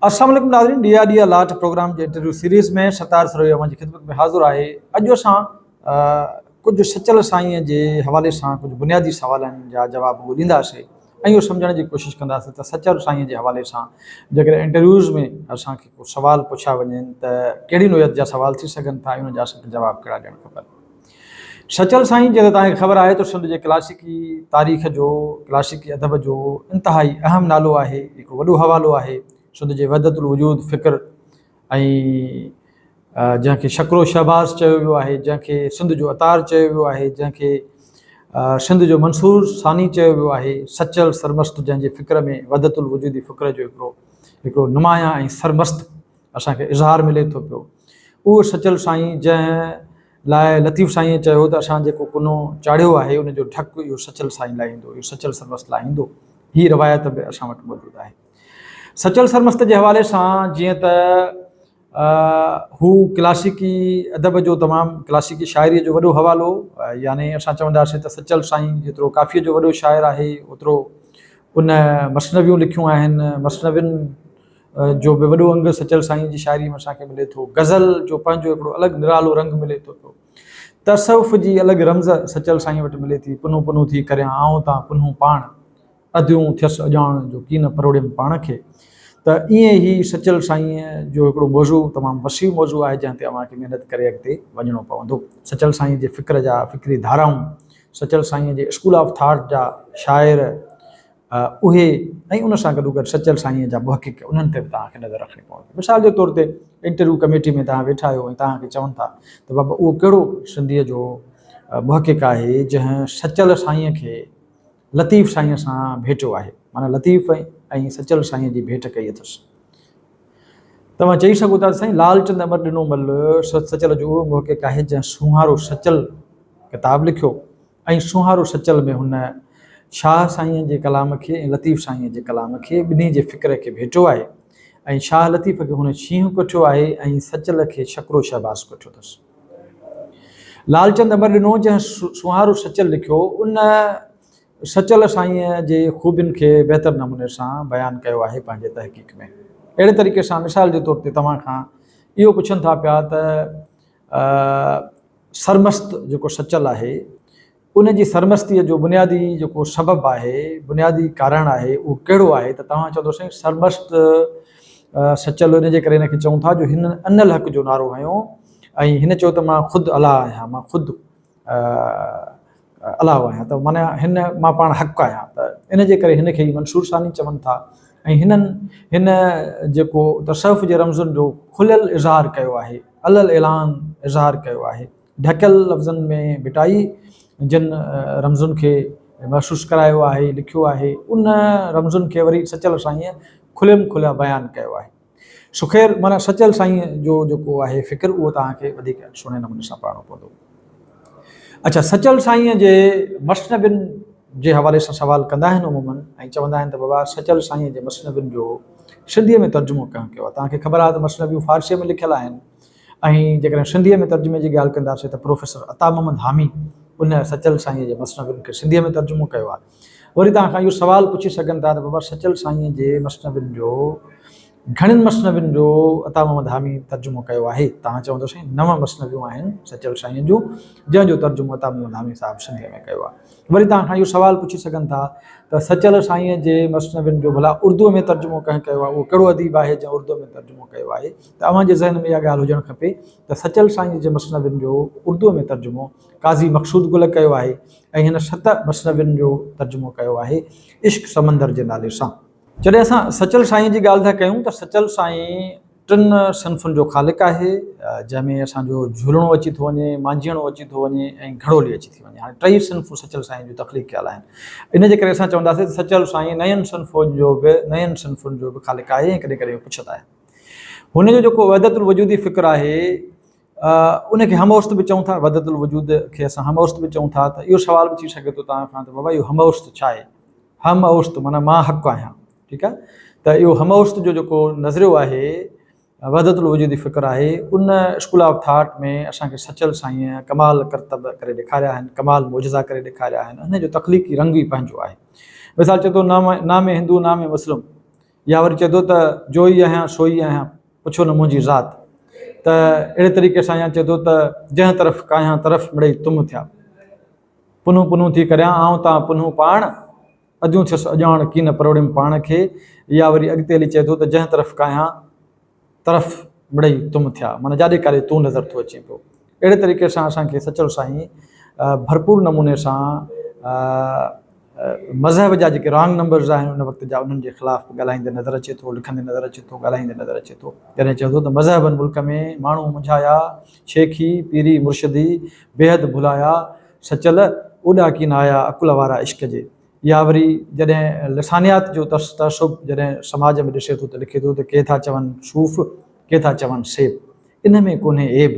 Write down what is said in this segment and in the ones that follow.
السلام عليڪم ناظرين ڏيا ڏيا لاٽ پروگرام جي انٽرويو سيريز ۾ ستار سروي اوهان جي خدمت ۾ حاضر آهي اڄ اسان ڪجهه سچل سائين جي حوالي سان ڪجهه بنيادي سوالن جا جواب ڳولينداسي ۽ اهو سمجهڻ جي ڪوشش ڪنداسي ته سچل سائين جي حوالي سان جيڪڏهن انٽرويوز ۾ اسان کي ڪو سوال پڇيا وڃن ته ڪهڙي نوعيت جا سوال ٿي سگهن ٿا ۽ ان جا اسان کي جواب ڪهڙا ڏيڻ کپن سچل سائين جيئن ته توهان کي خبر آهي ته سنڌ جي ڪلاسيڪي تاريخ جو ڪلاسيڪي ادب جو انتهائي اهم نالو آهي هڪ وڏو حوالو آهي سنڌ جي وحدت الوجود فڪر ۽ جنهن کي شڪرو شهباز چيو ويو آهي جنهن کي سنڌ جو اتار چيو ويو آهي جنهن کي سنڌ جو منصور ثاني چيو ويو آهي سچل سرمست جنهن جي فڪر ۾ وحدت الوجودي فڪر جو هڪڙو هڪڙو نمايان ۽ سرمست اسان کي اظهار ملي ٿو پيو اهو سچل سائين جنهن لاء لطيف سائينء چيو ته اسان جيڪو ڪنو چاڙهيو آهي ان جو ڍڪ اهو سچل سائين لاهيندو، اهو سچل سرمست لاهيندو. هيء روايت به اسان وٽ موجود آهي. سچل سرمست جي حوالي سان جيئن ته هو ڪلاسيڪي ادب جو تمام ڪلاسيڪي شاعريء جو وڏو حوالو يعني اسان چونداسين ته سچل سائين جيترو ڪافيء جو وڏو شاعر آهي اوترو ان مثنويون لکيون آهن، مثنوين جو به وڏو انگ سچل سائينء جي شاعريء ۾ اسان کي ملي ٿو. غزل جو پنهنجو هڪڙو الڳ نرالو رنگ ملي ٿو پيو. تصوف جي الڳ رمز سچل سائينء وٽ ملي ٿي، پنهون پنهون ٿي ڪريان آئون تان پنهون پاڻ، اديون ٿيس اڄاڻڻ جو ڪين پروڙيم پاڻ کي. ته ائين هي سچل سائينء جو هڪڙو موضوع تمام وسيع موضوع آهي، جنهن تي اوهان کي محنت ڪري اڳتي وڃڻو پوندو. سچل سائينء جي فڪر جا فڪري ڌارائون، سچل سائينء جي اسڪول آف ٿاٽ جا شاعر، اهي ۽ ان سان گڏوگڏ سچل سائينء جا محقق انهن تي به توهان کي نظر رکڻي پوندي. مثال جي طور تي انٽرويو ڪميٽي ۾ توهان ويٺا آهيو ۽ توهان کي چون ٿا ته بابا اهو ڪهڙو سنڌيء جو محقق آهي جنهن سچل سائينء کي لطيف سائينء سان ڀيٽيو آهي، معنيٰ لطيف ۽ سچل سائينء جي ڀيٽ ڪئي اٿس. توهان چئي سگهو ٿا ته سائين لالچند امر ڏنو مل سچل جو اهو محقق آهي جنهن سونهارو سچل ڪتاب لکيو ۽ سونهارو سچل ۾ هن شاهه سائينء جي ڪلام کي ۽ لطيف سائينء جي ڪلام کي ٻنهي جي فڪر کي ڀيٽو آهي ۽ شاهه لطيف کي هن شينهن ڪٺيو آهي ۽ سچل کي شڪرو شهباز ڪٺيو اٿس. لالچند امر ڏنو جنهن سونهارو سچل لکيو ان سچل سائينء جي خوبين کي بهتر نموني سان بيان ڪيو آهي پنهنجي تحقيق ۾. اهڙي طريقي سان مثال جي طور تي توهان کان اهو پڇن ٿا پيا ته سرمست جيڪو سچل آهي ان جي سرمستيء جو بنيادي جيڪو سبب آهي بنيادي ڪارڻ آهي اهو ڪهڙو آهي ته توهان چوندو سائين سرمست سچل ان جي ڪري هنکي چئون ٿا جو هن ان الحق جو نعرو هنيو ۽ هن چيو ته مان خود الله آهيان مان خود الله آهيان ته معنيٰ هن مان پاڻ حق آهيان ته ان جي ڪري هن کي ئي منصور ثاني چون ٿا ۽ هنن هن جيڪو تصوف جي رمزن جو کليل اظهار ڪيو آهي علي الاعلان اظهار ڪيو آهي ڍڪيل لفظن ۾ ڀٽائي جن رمزن کي محسوس ڪرايو آهي لکيو آهي ان رمزن کي وري سچل سائينء کليم کليا بيان ڪيو آهي سخير معنيٰ سچل سائين جو جيڪو آهي فڪر اهو توهان کي وڌيڪ سهڻي نموني سان پڙهڻو پوندو. اڇا سچل سائين جي مثنوين جي حوالي سان سوال ڪندا آهن عموماً ۽ چوندا آهن ته بابا سچل سائين جي مثنوين جو سنڌيء ۾ ترجمو ڪنهن ڪيو آهي؟ توهان کي خبر آهي ته مثنويون فارسيء ۾ لکيل آهن ۽ جيڪڏهن سنڌيء ۾ ترجمي جي ڳالهه ڪنداسين ته پروفيسر عطا محمد حامي ان سچل سائين جي مثنوين کي سنڌيء ۾ ترجمو ڪيو آهي. وري توهان کان اهو سوال پڇي سگهن ٿا ته بابا سچل سائينء جي مثنوين جو گهڻين مثنوين جو عطا محمد حاميء ترجمو ڪيو آهي؟ توهان چوندو سائين نو مثنويون آهن سچل سائينء جون جنهن جو ترجمو عطا محمد حامي صاحب سنڌيء ۾ ڪيو آهي. وري توهان کان اهو سوال پڇي سگهن ٿا ته سچل سائينء جي مثنوين جو ڀلا اردوء ۾ ترجمو ڪنهن ڪيو آهي؟ اهو ڪهڙو اديب آهي جنهن اردوء ۾ ترجمو ڪيو آهي؟ ته اوهان جي ذهن ۾ اها ڳالهه هجڻ کپي ته سچل سائينء جي مثنوين جو اردوء ۾ ترجمو قاضي مقصود گل ڪيو آهي ۽ هن ست مثنوين جو ترجمو ڪيو آهي عشق سمندر جي نالي سان. جڏهن اسان سچل سائين جي ڳالهه ٿا ڪيون ته سچل سائين ٽن صنفن جو خالق آهي جنهن ۾ اسان جو جهولڻو اچي ٿو وڃي، مانجهيئڻو اچي ٿو وڃي ۽ گهڙولي اچي ٿي وڃي. هاڻي ٽئي صنفون سچل سائين جون تخليق ڪيل آهن. ان جي ڪري اسان چونداسين ته سچل سائين نين صنفون جو به نين صنفن جو به خالق آهي ۽ ڪڏهن ڪڏهن اهو پڇت آهي. هن جو جيڪو وحدت الوجودي فڪر آهي، ان کي هموست به چئون ٿا، وحدت الوجود کي اسان هموست به چئون ٿا ته اهو سوال به ٿي سگهي ٿو توهان کان ته بابا اهو هموست ڇا آهي؟ هم اوست معنيٰ مان حق آهيان، ٺيڪ آهي؟ ته اهو هموست جو جيڪو نظريو آهي وحدت الوجود جي فڪر آهي ان اسڪول آف ٿاٽ ۾ اسان کي سچل سائين ڪمال ڪرتب ڪري ڏيکاريا آهن، ڪمال معجزا ڪري ڏيکاريا آهن، ان جو تخليقي رنگ ئي پنهنجو آهي. مثال چئي ٿو نام نام هندو نام مسلم. يا وري چئي ٿو ته جو ئي آهيان سو ئي آهيان پڇو نه منهنجي ذات ته اهڙي طريقي سان يا چئي ٿو ته جنهن طرف ڪاهيان طرف مڙئي تم ٿيا پنهون پنهون ٿي ڪريان آئون تان پنهون پاڻ اديون ٿيس اڄاڻ ڪين پروڙيم پاڻ کي يا وري اڳتي هلي چئي ٿو ته جنهن طرف ڪاهيان طرف مڙئي تم ٿيا معنيٰ جاڏي ڪاري تون نظر ٿو اچين پيو. اهڙي طريقي سان اسان کي سچل سائين ڀرپور نموني سان مذهب جا جيڪي رانگ نمبرز آهن ان وقت جا انهن جي خلاف به ڳالهائيندي نظر اچي ٿو لکندي نظر اچي ٿو ڳالهائيندي نظر اچي ٿو جڏهن چئي ٿو ته مذهبن ملڪ ۾ ماڻهو منجهايا شيخي پيري مرشدي بيحد ڀلايا سچل اوڏا ڪين آيا عقل وارا عشق جي يا وري جڏهن لسانيات جو ترس تعصب جڏهن سماج ۾ ڏسي ٿو ته لکي ٿو ته ڪي ٿا چون صوف ڪي ٿا چون سيب ان ۾ ڪونهي عيب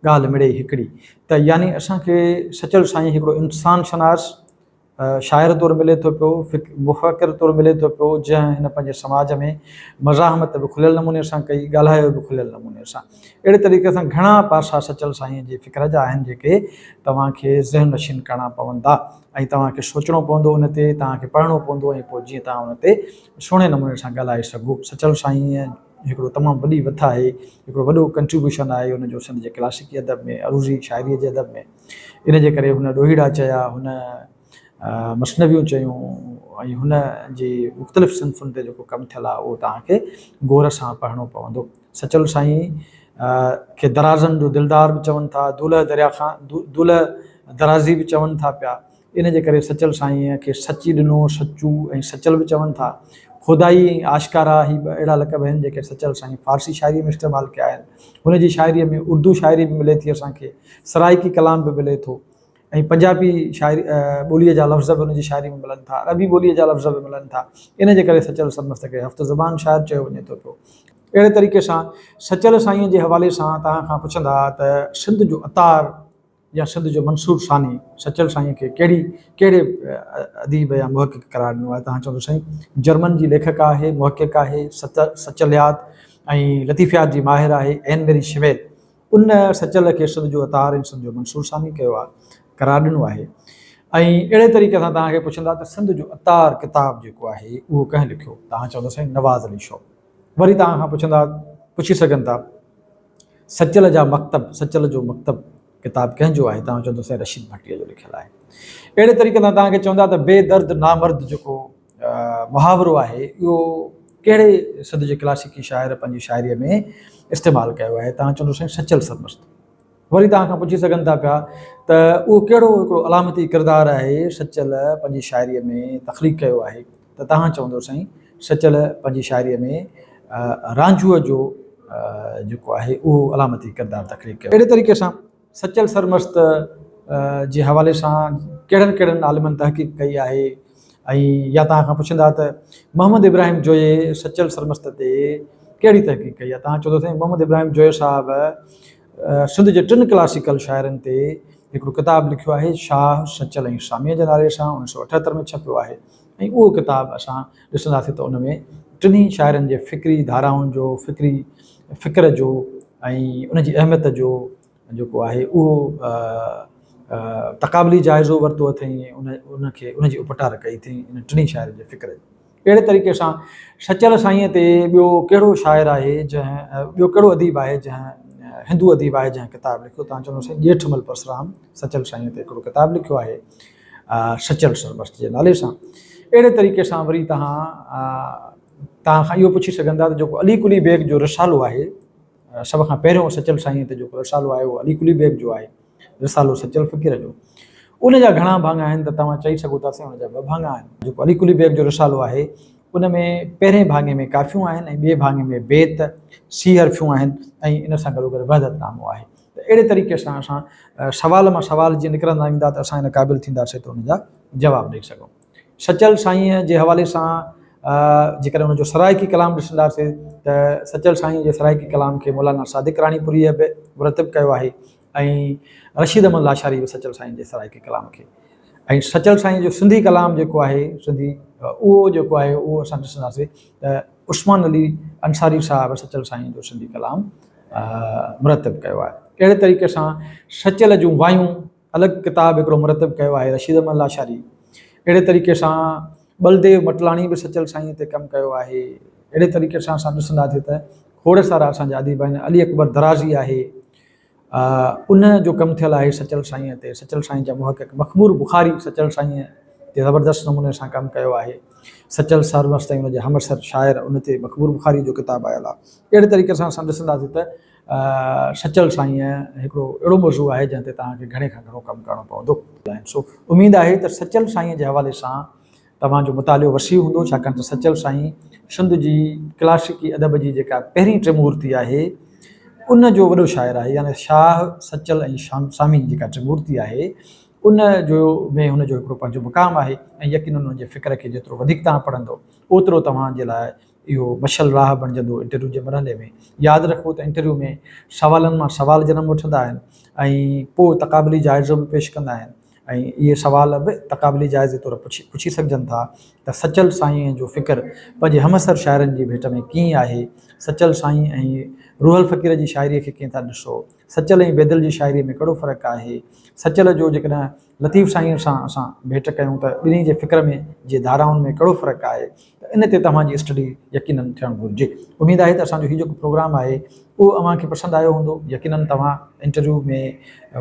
ڳالهه مڙئي هڪڙي ته يعني اسان کي سچل سائين هڪڙو انسان شناس شاعر طور ملي ٿو پيو مفڪر طور ملي ٿو پيو جنهن هن پنهنجي سماج ۾ مزاحمت به کليل نموني سان ڪئي ڳالهايو به کليل نموني سان اهڙي طريقي سان گهڻا پاسا سچل سائينء جي فڪر جا آهن، جيڪي توهان کي ذهن نشين ڪرڻا پوندا ۽ توهان کي سوچڻو پوندو ان تي، توهان کي پڙهڻو پوندو ۽ پوء جيئن توهان ان تي سهڻي نموني سان ڳالهائي سگهو. سچل سائينء هڪڙو تمام وڏي وٿ آهي، هڪڙو وڏو Contribution آهي ان جو سنڌ جي ڪلاسيڪي ادب ۾، عروضي شاعريء جي ادب ۾. ان جي ڪري هن ڏوهيڙا چيا، هن مثنويون چيون ۽ هن جي مختلف صنفن تي جيڪو ڪم ٿيل آهي اهو توهان کي غور سان پڙهڻو پوندو. سچل سائين کي درازن جو دلدار به چون ٿا، دولهه دريا خان، دولهه درازي به چون ٿا پيا، ان جي ڪري سچل سائين کي سچي ڏنو، سچو ۽ سچل به چون ٿا. خودائي ۽ آشڪارا هي ٻه اهڙا لقب آهن جيڪي سچل سائين فارسي شاعريء ۾ استعمال ڪيا آهن. هن جي شاعريء ۾ اردو شاعري به ملي ٿي اسان کي، سرائيڪي ڪلام به ملي ٿو. ۽ پنجابي شاعري ٻوليء جا لفظ به ان جي شاعري ۾ ملن ٿا، عربي ٻوليء جا لفظ به ملن ٿا، ان جي ڪري سچل سرمست کي هفت زبان شاعر چيو وڃي ٿو پيو. اهڙي طريقي سان سچل سائينء جي حوالي سان توهان کان پڇندا ته سنڌ جو عطار يا سنڌ جو منصور ثاني سچل سائينء کي ڪهڙي ڪهڙي اديب يا محقق قرار ڏنو آهي؟ توهان چوندو سائين جرمن جي ليکڪ آهي، محقق آهي، سچليات ۽ لطيفيات جي ماهر آهي، اين ميري شميل ان سچل کي سنڌ جو اتحاد ۽ سنڌ جو منصور سامي ڪيو آهي، قرار ڏنو آهي ۽ اهڙي طريقي سان توهان کي پڇندا ته سنڌ جو اتار ڪتاب جيڪو آهي اهو ڪنهن لکيو؟ توهان چوندا سائين نواز علي شو. وري توهان کان پڇندا پڇي سگهن ٿا سچل جا مڪتب، سچل جو مڪتب ڪتاب ڪنهن جو آهي؟ توهان چوندا سائين رشيد ڀٽي جو لکيل آهي. اهڙي طريقي سان توهان کي چوندا ته بي درد نامرد جيڪو محاورو آهي، اهو ڪهڙي سڌ جي ڪلاسيڪي شاعر پنهنجي شاعريء ۾ استعمال ڪيو آهي؟ توهان چوندو سائين سچل سرمست. وري توهان کان پڇي سگهن ٿا پيا ته اهو ڪهڙو هڪڙو علامتي ڪردار آهي سچل پنهنجي شاعريء ۾ تخليق ڪيو آهي؟ ته توهان چوندو سائين سچل پنهنجي شاعريء ۾ رانجهوء جو جيڪو آهي اهو علامتي ڪردار تخليق ڪيو. اهڙي طريقي سان سچل سرمست جي حوالي سان ڪهڙن ڪهڙن عالمن تحقيق ڪئي آهي؟ ۽ يا توهان کان پڇندا ته محمد ابراهيم جويي سچل سرمست تي ڪهڙي تحقيق ڪئي آهي؟ توهان چئو ته سائين محمد ابراهيم جويي صاحب سنڌ جي ٽن ڪلاسيڪل شاعرن تي هڪڙو ڪتاب لکيو آهي شاهه سچل ۽ ساميء جي نالي سان اڻ سؤ اٺهتر ۾ ڇپيو آهي. ۽ اهو ڪتاب اسان ڏسنداسين ته ان ۾ ٽنهي شاعرن جي فڪري ڌارائن جو فڪري فڪر جو ۽ ان جي اهميت جو جيڪو آهي اهو تقابلي جائزو ورتو اٿئين ان ان کي ان جي اپٽار ڪئي اٿئين ان ٽنهي شاعرن جي فڪر جي اهڙي طريقي سان سچل سائينء تي ٻيو ڪهڙو شاعر آهي جنهن ٻيو ڪهڙو اديب آهي جنهن هندو اديب آهي جنهن ڪتاب لکيو تان چوندو سائين ڄيٺمل پرسرام سچل سائينء تي هڪڙو ڪتاب لکيو آهي سچل سرمست جي نالي سان. اهڙي طريقي سان وري توهان توهان کان اهو پڇي سگهندا ته جيڪو علي قلي بيگ جو رسالو آهي، سڀ کان پهريون سچل سائينء تي جيڪو رسالو آهي اهو علي قلي بيگ جو آهي، رسالو سچل فقير جو. ان جا گهڻا ڀاڱا آهن ته توهان چئي سگهو ٿا سائين ان جا ٻه ڀاڱا آهن. جيڪو علي قلي بيگ جو رسالو آهي ان ۾ پهرئين ڀاڱي ۾ ڪافيون آهن ۽ ٻئي ڀاڱي ۾ بيت، سي حرفيون آهن ۽ ان سان گڏوگڏ وحدت نامو آهي. ته اهڙي طريقي سان اسان سوال مان سوال جيئن نڪرندا ويندا ته اسان ان قابل ٿينداسين ته ان جا جواب ڏئي سگهون. سچل سائينء جي حوالي سان جيڪڏهن ان جو سرائيڪي ڪلام ڏسنداسين ته سچل سائينء جي سرائيڪي ڪلام کي مولانا صادق راڻيپوريء به مرتب ڪيو آهي ۽ رشيد احمد لاشاريء به سچل سائينء جي سرائيڪي ڪلام کي ۽ سچل سائينء جو سنڌي ڪلام جيڪو آهي سنڌي اهو جيڪو آهي اهو اسان ڏسنداسين ته عثمان علي انصاري صاحب سچل سائينء جو سنڌي ڪلام مرتب ڪيو آهي. اهڙي طريقي سان سچل جون وايون الڳ ڪتاب هڪڙو مرتب ڪيو آهي رشيد احمد لاشاري. اهڙي طريقي سان ٻلديو مٽلاڻي به سچل سائينء تي ڪم ڪيو آهي. اهڙي طريقي سان اسان ڏسنداسين ته کوڙ سارا اسان جا اديب آهن، علي اڪبر درازي آهي، ان جو ڪم ٿيل آهي سچل سائينء تي، سچل سائينء جا محقق مخمور بخاري سچل سائينء تي زبردست نموني سان ڪم ڪيو آهي. سچل سروس تائين ان جي همعصر شاعر ان تي مخمور بخاري جو ڪتاب آيل آهي. اهڙي طريقي سان اسان ڏسنداسين ته سچل سائين هڪڙو اهڙو موضوع آهي جنهن تي توهان کي گهڻي کان گهڻو ڪم ڪرڻو پوندو. سو اميد آهي ته سچل سائين جي حوالي سان توهان جو مطالعو وسيع هوندو ڇاڪاڻ ته سچل سائين سنڌ جي ڪلاسيڪي ادب جي جيڪا پهرين ٽريمورتي آهي ان جو وڏو شاعر آهي يعني شاهه سچل ۽ سامي جيڪا ٽريمورتي آهي ان جو ۾ هن جو هڪڙو پنهنجو مقام آهي ۽ يقينن ان جي فڪر کي جيترو وڌيڪ توهان پڙهندو اوترو توهان جي لاء اهو مشعل راهه بڻجندو انٽرويو جي مرحلي ۾. ياد رکو ته انٽرويو ۾ سوالن مان سوال جنم وٺندا آهن ۽ پوء تقابلي جائزو به پيش ڪندا آهن ۽ اهي سوال به تقابلي جائزي طور پڇي سگهجن ٿا ته سچل سائينء جو فڪر پنهنجي همعصر شاعرن جي ڀيٽ ۾ ڪيئن آهي؟ سچل سائين ۽ روحل فقير جي شاعريء کي ڪيئن ٿا ڏسو؟ سچل ۽ بيدل جي شاعريء ۾ ڪهڙو فرق آهي؟ سچل جو جيڪڏهن لطيف سائينء سان اسان ڀيٽ ڪيون ته ٻنهي جي فڪر ۾ جي ڌارائن ۾ ڪهڙو فرق آهي ته ان تي توهان جي اسٽڊي يقينن ٿيڻ گهرجي. اميد آهي ته اسان جو هي جيڪو پروگرام آهي اهو اوهان کي پسند آيو هوندو. يقينن توهان انٽرويو ۾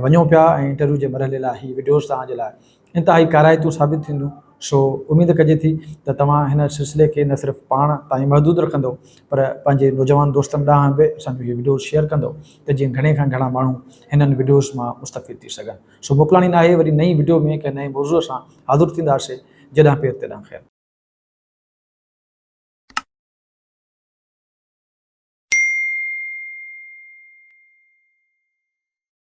وڃو پيا ۽ انٽرويو جي مرحلي لاء هي وڊيوز توهان جي لاء انتهائي ڪارائتون ثابت ٿينديون سو اميد ڪجي ٿي ته توهان هن سلسلي کي نه صرف پاڻ تائين محدود رکندو پر پنهنجي نوجوان دوستن ڏانهن به اسان جون هي وڊيوز شيئر ڪندو ته جيئن گهڻي کان گهڻا ماڻهو هنن وڊيوز مان مستفيد ٿي سگهن. سو موڪلاڻي ناهي وري نئين وڊيو ۾ ڪنهن نئين موضوع سان حاضر ٿينداسي جڏهن پير تڏهن خير.